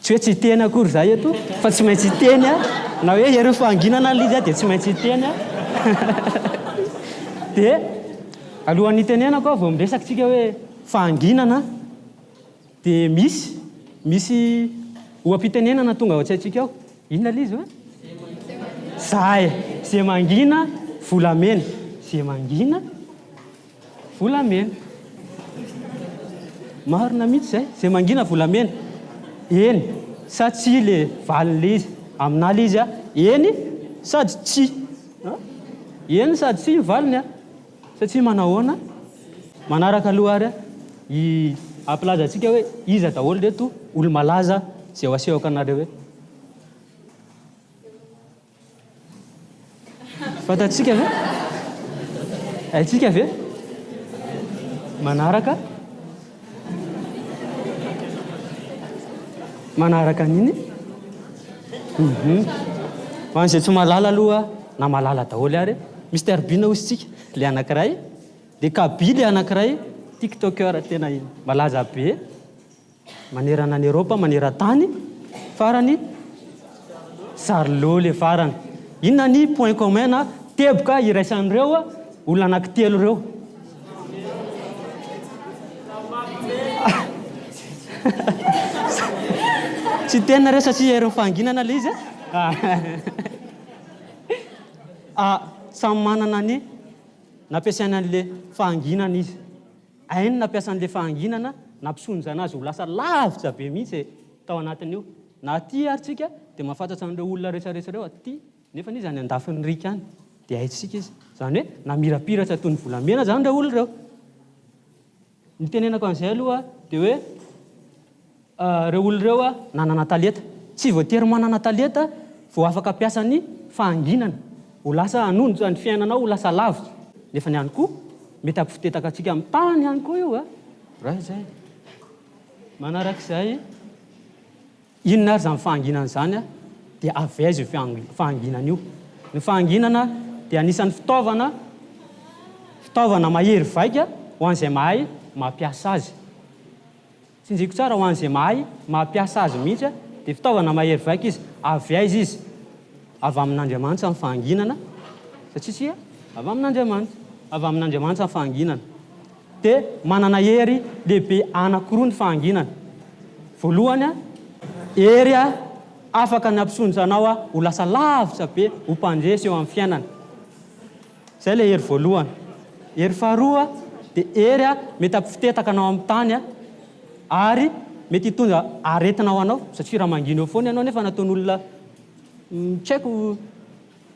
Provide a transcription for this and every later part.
Tsy hoe tsy hiteny akory za eto fa tsy maintsy hiteny a, na hoe ianareo fahanginana ary izy a dia tsy maintsy hiteny a. Dia alohan'ny hitenenako a vao miresaka tsika hoe fahanginana dia misy misy oha-pitenenana tonga ao an-tsaintsika ao, inona ilay izy hoe? Za e, ze mangina volamena, ze mangina Volamena. Marina mihitsy izay, izay mangina volamena. Eny sa tsia ilay valin'ilay izy. Aminà ilay izy eny sady tsia. Eny sady tsia ny valiny satria manahoana? Manaraka aloha ary i hampilaza antsika hoe iza daholo ireto olo-malaza izay ho asehoko anareo eto. Fantatsika ve? Haintsika ve? Manaraka? Manaraka an'iny? Mhm. Ho an'izay tsy malala aloha na malala daholo ary, Mister Bean hosintsika, le anankiray, de Kaby le anankiray, Tiktoker tena malaza be. Manerana an'i Eropa maneran-tany farany Charlot le farany. Inona ny point commun na teboka iraisan'ireo olona anankitelo ireo? Tsy hiteny nareo satria herin'ny fahanginana ilay izy a. Samy manana ny nampiasainy an'ilay fahanginana izy. Hainy nampiasa an'ilay fahanginana nampisonjana azy ho lasa lavitra be mihitsy e, tao anatin'io. Na aty ary tsika dia mahafantatsa an'ireo olona rehetrarehetra ireo aty, nefany izy any andafin'ny riaka any dia haintsika izy. Izany hoe namirapiratra toy ny volamena izany ireo olona ireo. Ny itenenako an'izay aloha dia hoe. Ireo olona ireo nanana talenta. Tsy voatery manana talenta vao afaka hampiasa ny fahanginana. Ho lasa hanonja ny fiainanao, ho lasa lavitra. Nefany ihany koa, mety hampifotetaka antsika amin'ny tany ihany koa io. Raha izay, manaraka izay, inona ary izany fahanginana izany, dia avy aiza io fahanginana io? Ny fahanginana dia anisan'ny fitaovana, fitaovana mahery vaika ho an'izay mahay mampiasa azy. Tsinjiko tsara ho an'izay mahay mampiasa azy mihitsy dia fitaovana mahery vaika izy. Avy aiza izy? Avy amin'Andriamanitra ny fahanginana, satria isika avy amin'Andriamanitra. Avy amin'Andriamanitra ny fahanginana. Dia manana hery lehibe anankiroa ny fahanginana. Voalohany, hery afaka ny hampisondrotra anao ho lasa lavitra be, ho mpandresy eo amin'ny fiainana. Izay ilay hery voalohany. Hery faharoa dia hery mety hampifitetaka anao amin'ny tany ary mety hitondra aretina ho anao satria raha mangina eo foana ianao nefa nataon'olona tsy haiko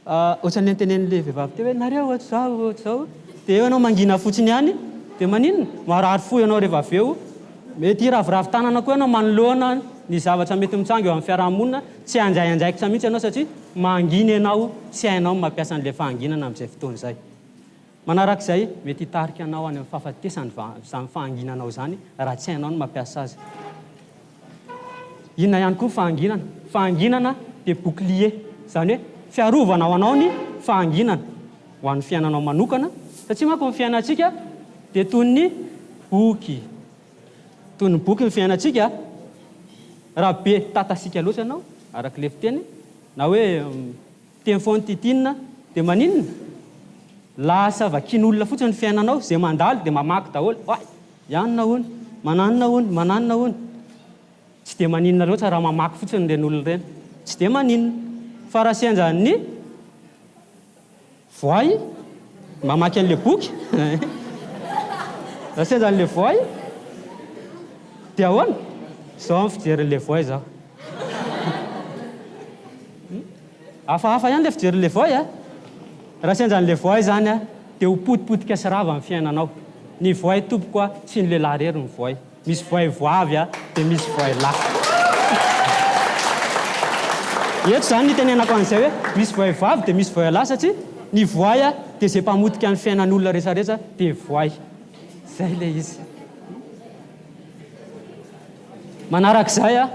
ohatran'ny antenenin'ilay vehivavy teo hoe nareo ohatr'izao ohatr'izao dia eo ianao mangina fotsiny ihany dia maninona? Marary fo ianao rehefa avy eo. Mety hiraviravy tanana koa ianao manoloana ny zavatra mety mitsangy eo amin'ny fiarahamonina. Tsy handray andraikitra mihitsy ianao satria mangina ianao, tsy hainao ny mampiasa an'ilay fahanginana amin'izay fotoana izay. Manaraka izay, mety hitarika anao any amin'ny fahafatesana izany fahanginanao izany raha tsy hainao ny mampiasa azy. Inona ihany koa ny fahanginana? Fahanginana dia bouclier, izany hoe fiarovana ho anao ny fahanginana, ho an'ny fiainanao manokana, satria manko ny fiainantsika dia toy ny boky Toy ny boky ny fiainantsika, raha be tatasika loatra ianao, araka ilay fiteny, na hoe miteny foana tintinina, dia maninona? Lasa vakin'olona fotsiny ny fiainanao, izay mandalo dia mamaky daholo, ay, ianona hono, mananona hono, mananona hono. Tsy dia maninona loatra raha mamaky fotsiny ireny olona ireny, tsy dia maninona, fa raha sendran'ny. Voay, mamaky an'ilay boky, raha sendra an'ilay voay dia ahoana? Izao amin'ny fijerin'ilay voay izao. Hafahafa ihany ilay fijerin'ilay voay a! Raha sendra an'ilay voay izany dia ho potipotika sy rava ny fiainanao. Ny voay tompoko a, tsy ny lehilahy irery no voay. Misy voay voavy a, dia misy voay lahy. Eto izany ny itenenako an'izay hoe misy voay voavy dia misy voay lahy satria ny voay a, dia izay mpamotika ny fiainan'olona resaretra dia voay. Izay ilay izy. Manarak'izay a,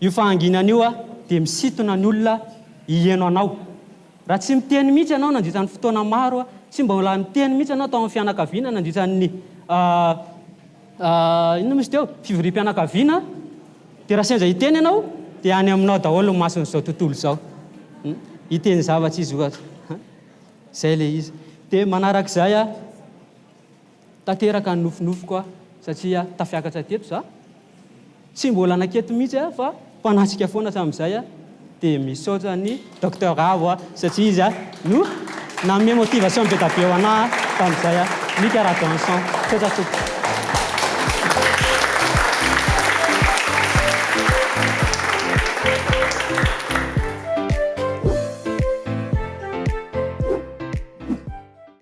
io fahanginana io a, dia misintona ny olona hiheno anao. Raha tsy miteny mihitsy ianao nandritra ny fotoana maro a, tsy mbola niteny mihitsy ianao tao amin'ny fianakaviana nandritra ny Inona moa izy teo? Fivoriam-pianakaviana, dia raha sendra hiteny ianao dia any aminao daholo ny mason'izao tontolo izao, hiteny zavatra izy ohatra, izay ilay izy. Dia manarak'izay aho, tanteraka ny nofinofiko aho satria tafiakatra teto izaho. Tsy mbola naketo mihitsy aho fa mpanatrika foana hatramin'izay aho dia misaotra an'i Docteur Ravo aho satria izy no nanome motivation be da be ho anah tamin'izay aho. Mika Rajohanson. Misaotra tompoko.